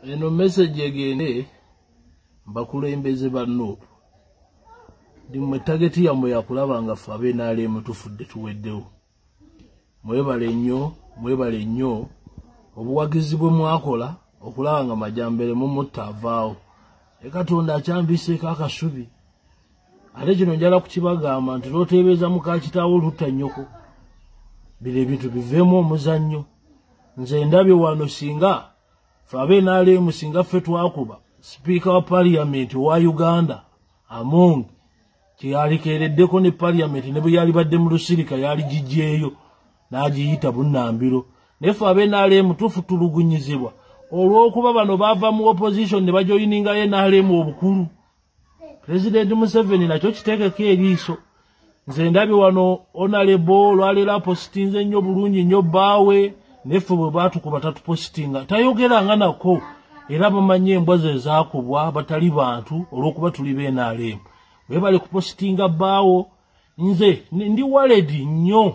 eno message egende bakulembeze ba nup ndimwe tageti yamwe yakulaba nga fe abenalemu tufudde tuweddewo mwebale nnyo mwebale nnyo obuwagizi bwe mwakola okulaba nga majambere mumutta avaawo e katonda akyambiseeko akasubi ate kino njala kukibagamba nti loteebeeza mukakitaawo olutta nnyoko bino ebintu biveemu omuzannyo nze ndabye wano singa fe abenaleemu singa ffe twakuba sipiika wa paliyamenti owa uganda among kyeyalikeereddeko ne paliyamenti ne bwe yalibadde mu lusirika yali gigyeyo n'agiyita bunnambiro naye fe abenaleemu tufutulugunyizibwa olw'okuba bano baava mu opposition ne bajoyininga nrm obukulu pulezidenti museveni nakyo kitegeko eriiso nze ndabye wano onalebo olwaleero apositinze nnyo bulungi nnyo bbaawe neffe bwe batukuba tatupositinga tayogera nga nako era bamanyi embwa ze zakubwa batali bantu olw'okuba tuli benaleemu webale kupositinga bbaawo nze ndi waledi nnyo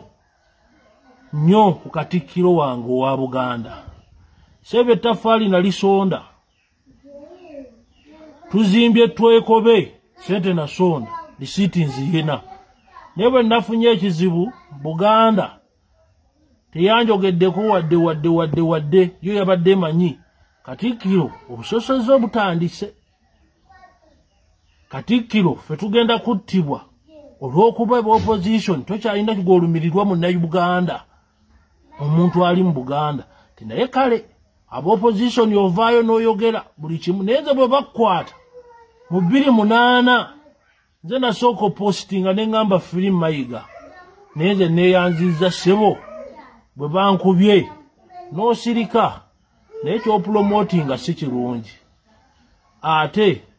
nnyo ku katikkiro wange owa buganda seeba ettafaali nalisonda tuzimbye twekobe sente nasonda lisiti nziyina naye bwe nafunye ekizibu buganda teyanjogeddeko wadde wadde wadde wadde yo yabadde manyi katikkiro obusosoze obutandise katikkiro fe tugenda kuttibwa olw'okuba eba opposition tokyalina kigolumirirwa mu nauganda omuntu ali mu buganda ti naye kale abaopposition ovaayo n'oyogera buli kimu naye nze bwe bakukwata mu bbiri munaana nze nasooka opositinga ne ŋŋamba firi mayiga naye nze neeyanziza ssebo bwe bankubye n'osirika naye kyopulomotinga si kirungi ate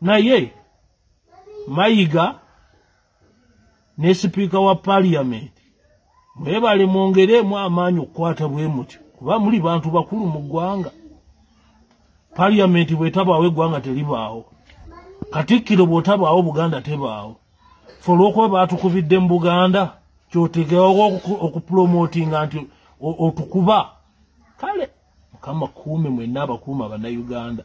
naye mayiga ne sipiika wa paliyamenti mwebale mwongeremu amaanyi okukwata bwe mutyo kuba muli bantu bakulu mu ggwanga paliyamenti bwetabaawo eggwanga teribaawo katikkiro bwetabaawo buganda tebaawo fe olwokuba baatukubidde mu buganda kyotegewawo okupulomotinga nti otukuba kale mukama kuume mwenna abakuuma bannayuganda